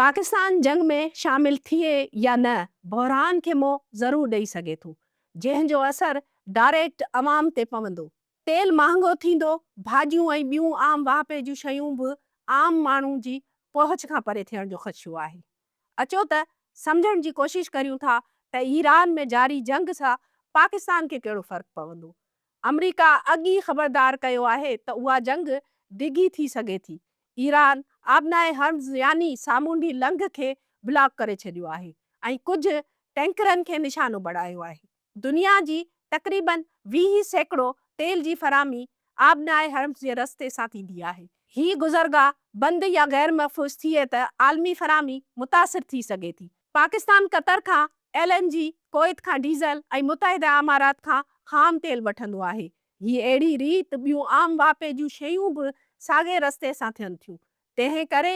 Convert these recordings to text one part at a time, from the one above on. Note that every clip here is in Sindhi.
پاڪستان جنگ ۾ شامل ٿئي يا نه بحران کي منهن ضرور ڏئي سگهي ٿو جنهن جو اثر ڊائريڪٽ عوام تي پوندو، تيل مهانگو ٿيندو، ڀاڄيون ۽ ٻيون عام واهپي جون شيون به عام ماڻهو جي پهچ کان پري ٿيڻ جو خدشو آهي. اچو ته سمجهڻ جي ڪوشش ڪريون ٿا ته ايران ۾ جاري جنگ سان پاڪستان کي ڪهڙو فرق پوندو آمريڪا اڳ ئي خبردار ڪيو آهي ته اها جنگ ڊگهي ٿي سگهي ٿي. ايران آبناء هرمز يعني سامونڊي لنگهه کي بلاڪ ڪري ڇڏيو آهي ۽ ڪجهه ٽينڪرن کي نشانو بڻايو آهي. دنيا جي تقريباً ويهه سيڪڙو تيل جي فراهمي آبناء هرمز جي رستي سان ٿيندي آهي. هي گذرگاهه بند يا غيرمحفوظ ٿئي ته عالمي فراهمي متاثر ٿي سگهي ٿي. پاڪستان قطر کان ايل اين جي، ڪويت کان ڊيزل ۽ متحده امارات کان خام تيل وٺندو آهي. هي اهڙي ريت ٻيون عام واهپي جون شيون به ساڳئي رستي سان ٿين ٿيون. تنهن ڪري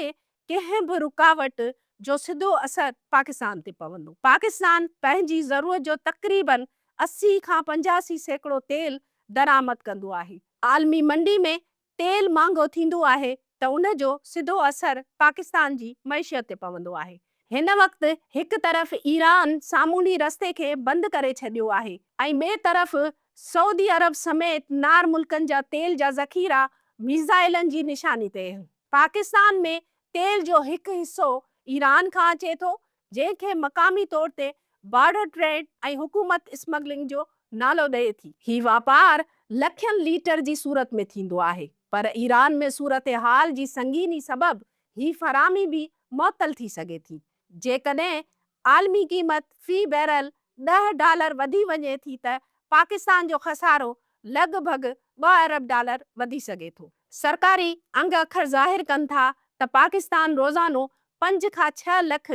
ڪنهن به رڪاوٽ جو سڌو اثر پاڪستان تي پوندو. پاڪستان پنهنجي ضرورت جو تقريباً اسي کان پنجاسي سيڪڙو تيل درآمد ڪندو آهي. عالمي منڊي ۾ تيل مهانگو ٿيندو آهي ته ان جو سڌو اثر پاڪستان جي معيشت تي پوندو آهي. هن وقت هڪ طرف ايران سامونڊي رستي کي بند ڪري ڇڏيو آهي ۽ ٻئي طرف سعودي عرب سميت نار ملڪن جا تيل جا ذخيرا ميزائلن جي نشاني تي آهن. پاڪستان ۾ تيل جو هڪ حصو ايران کان اچي ٿو جنهن کي مقامي طور تي بارڊر ٽريڊ ۽ حڪومت اسمگلنگ جو نالو ڏئي ٿي. هي واپار لکين ليٽر جي صورت ۾ ٿيندو آهي پر ايران ۾ صورتحال جي سنگيني سبب هي فراهمي به معطل ٿي سگهي ٿي جيڪڏهن عالمي قيمت في بيرل ڏهه ڊالر وڌي وڃي ٿي ته پاڪستان جو خسارو لڳ ڀڳ ٻه ارب ڊالر وڌي سگهي ٿو. سرڪاري انگ اکر ظاهر ڪن ٿا ته پاڪستان روزانو پنج کان ڇهه لک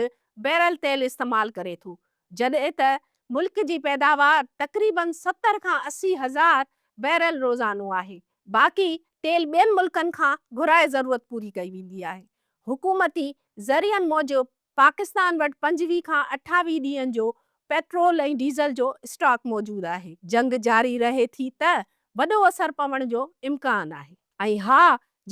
بيرل تيل استعمال ڪري ٿو جڏهن ته ملڪ جي پيداوار تقريباً ستر کان اسي هزار بيرل روزانو آهي باقي تيل ٻين ملڪن کان گهرائي ضرورت پوري ڪئي ويندي آهي حڪومتي ذريعن موجب پاڪستان وٽ پنجويهه کان اٺاويهه ڏينهن جو پيٽرول ۽ ڊيزل جو اسٽاڪ موجود آهي، جنگ جاري رهي ٿي ته وڏو اثر پوڻ جو امڪان آهي ۽ ها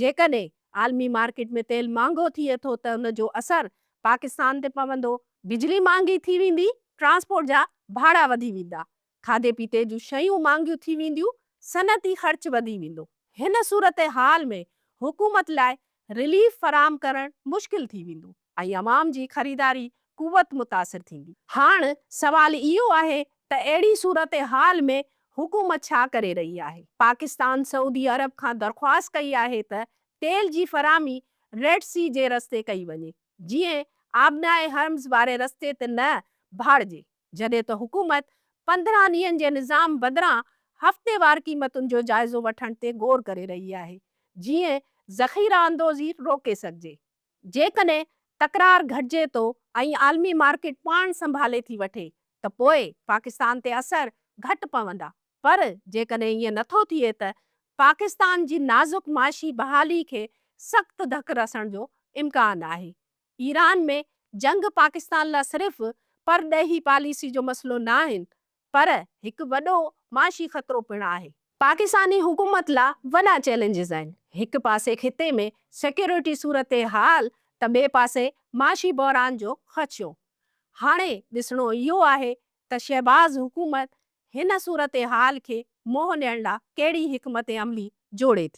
جيڪڏهن عالمي مارڪيٽ ۾ تيل مهانگو ٿئي ٿو ته ان جو اثر پاڪستان تي پوندو، بجلي مهانگي ٿي ويندي، ٽرانسپورٽ جا ڀاڙا وڌي ويندا، کاڌي پيتي جون شيون مھانگيون ٿي وينديون، صنعتي خرچ وڌي ويندو. ھن صورتحال ۾ حڪومت لاء رليف فراھم ڪرڻ مشڪل ٿي ويندو ۽ عوام جي خريداري قوت متاثر ٿيندي. ھاڻ سوال اھو آھي ته اھڙي صورتحال ۾ حڪومت ڇا ڪري رھي آھي؟ پاڪستان سعودي عرب کان درخواست ڪئي آھي ته تيل جي فراھمي ريڊ سي جي رستي ڪئي وڃي، جيئن آبناء ھرمز واري رستي تي نه ڀاڙجي. جڏهن ته حڪومت پندرهن ڏينهن جي نظام بدران هفتيوار قيمتن جو جائزو وٺڻ تي غور ڪري رهي آهي جيئن ذخيره اندوزي روڪي سگهجي. جيڪڏهن تڪرار گهٽجي ٿو ۽ عالمي مارڪيٽ پاڻ سنڀالي ٿي وٺي ته پوء پاڪستان تي اثر گهٽ پوندا پر جيڪڏهن ائين نٿو ٿئي ته پاڪستان جي نازڪ معاشي بحالي کي سخت ڌڪ رسڻ جو امڪان آهي ايران ۾ جنگ پاڪستان لا صرف پرڏيهي پاليسي جو مسئلو نه آهن پر هڪ وڏو معاشي خطرو پڻ آهي. پاڪستاني حڪومت لا وڏا چئلينجز آهن، هڪ پاسي خطي ۾ سيڪيورٽي صورتحال ته ٻئي پاسي معاشي بحران جو خدشو. هاڻي ڏسڻو اهو آهي ته شهباز حڪومت هن صورتحال کي منهن ڏيڻ لا ڪهڙي حڪمت عملي جوڙي ٿي.